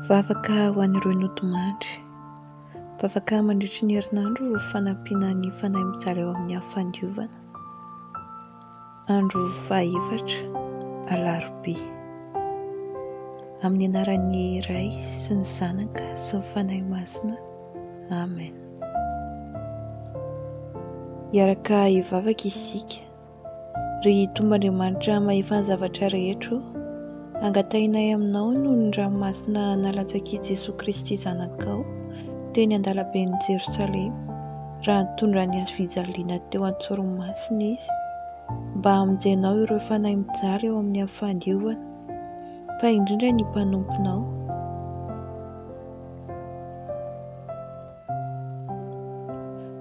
Vavaka ho an'ireo nodimandry. Vavaka mandritry ny herinandro fanampiana ny fanahy mitsara eo amin'ny hafandiovana. Andro fahaefatra, Alarobia. Amin'ny anaran'ny Ray sy ny Zanaka sy ny Fanahy Masina. Amen. Hiaraka hivavaka isika. Ry Tompoandriamanitra Mahefan'ny zavatra rehetra o, angatahinay Aminao noho ny ranomasina nalatsak'i Jesoa Kristy Zanakao teny an-dalaben'i Jerosalema, raha nitondra an'i Hazofijaliana teo an-tsoromasiny Izy, mba hamonjenao ireo fanahy mijaly ao amin'ny fandiovana, fa indrindra ny mpanomponao.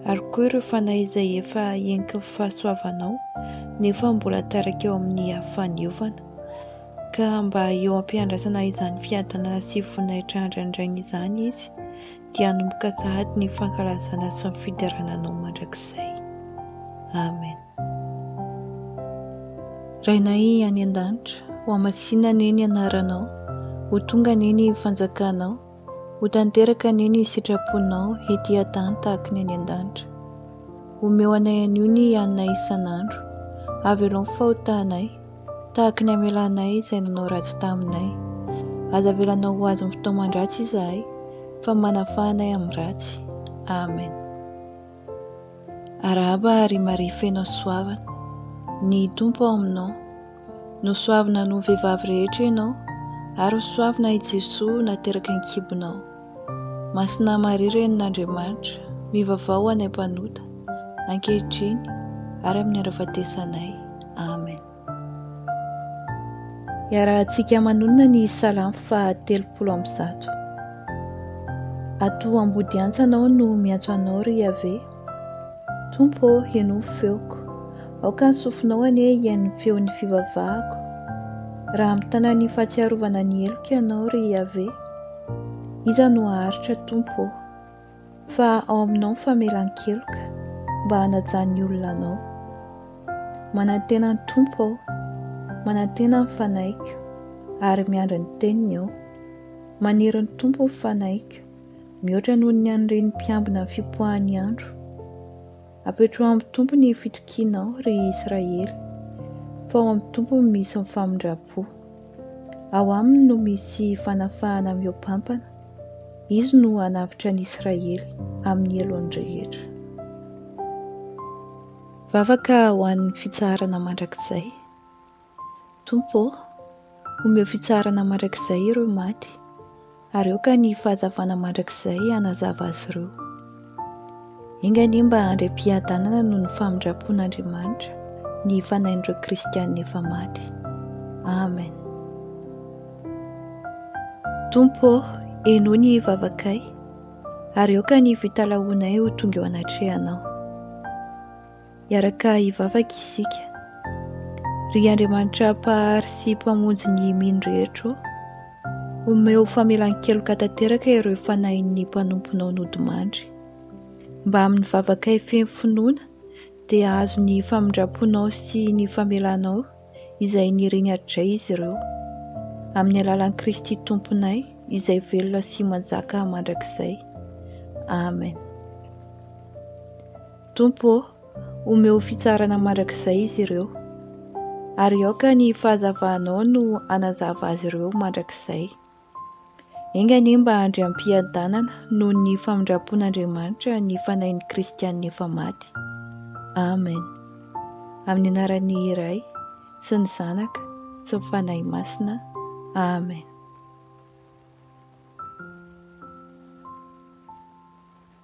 Ary koa ireo fanahy izay efa henon'ny fahasoavanao nefa mbola tarika eo amin'ny afo faneovana. Ka mba eo am-piandrasana izany fiadanana sy voninahitra andrandraina izany Izy, dia hanomboka sahady ny fankalazana sy ny fiderana Anao mandrakizay. Amen. Rainay any an-danitra, hohamasinina anie ny anaranao, ho tonga anie ny fanjakanao. Ho tanteraka anie ny sitraponao ety an-tany tahaka ny any an-danitra. Omeo anay anio ny haninay isan'andro. Avelao ny fahotanay, tahaka ny hamelanay izay nanao ratsy taminay. Aza avelanao ho azon'ny fitaoman-dratsy izahay, fa manafaha anay amin'ny ratsy. Amen. Arahaba ry Maria feno hasoavana. Ny Tompo ao aminao. Nosoavina noho vehivavy rehetra ianao, ary ho soavina i Jesoa nateraka an-kibonao. Masina Maria Renin'Andriamanitra, mivavao ho anay mpanota, ankehitriny ary amin'ny andro ahafatesanay. Amen. Iarahantsika manonona ny Salamo faha telopolo amby zato. Ato ambodiantsa anao no miantso anao, ry Iaveh, Tompo ô, henoy ny feoko. Aoka ny sofinao anie hihaino ny feon'ny fivavahako. Raha mitana ny fahatsiarovana ny heloka ianao, ry Iaveh, iza no haharitra, Tompo ô? Fa ao aminao ny famelan-keloka, mba hanaja ny olona anao. Manantena ny Tompo aho, manantena ny fanahiko, ary miandry ny teniny aho. Maniry ny Tompo ny fanahiko. mihoatra noho ny an'ireny mpiambina ny fipoahan'ny andro. Apetraho amin'ny Tompo ny fitokianao, ry Israely, fa ao amin'ny Tompo no misy ny famindram-po. Ao aminy no misy fanafahana mihoa-pampana, Izy no hanavotra an'i Israely amin'ny helony rehetra. Vavaka ho an'ny fitsaharana mandrakizay. Tompo ô, omeo fitsaharana mandrakizay ireo maty, ary aoka ny fahazavana mandrakizay hanazava azy ireo. Enga anie mba handry am-piadanana noho ny famindram-pon'Andriamanitra ny fanahin'ireo kristiana efa maty. Amen. Tompo ô, henoy ny vavakay, ary aoka ny fitalahoanay ho tonga eo anatrehanao. Hiaraka hivavaka isika. Ry Andriamanitra Mpahary sy Mpamonjy ny mino rehetra ô, omeo famelan-keloka tanteraka ireo fanahin'ny mpanomponao nodimandry. Mba amin'ny vavakay feno finoana dia hahazo ny famindram-ponao sy ny famelanao izay niriny hatrizay izy ireo. Amin'ny alalan'i Kristy Tomponay izay velona sy manjaka mandrakizay. Amen. Tompo ô, omeo fitsarana mandrakizay izy ireo, ary aoka ny fahazavanao no hanazava azy ireo mandrakizay. Enga anie mba handry am-piadanana noho ny famindram-pon'Andriamanitra ny fanahin'ny kristiana efa maty. Amen. Amin'ny anaran'ny Ray sy ny Zanaka sy ny Fanahy Masina. Amen.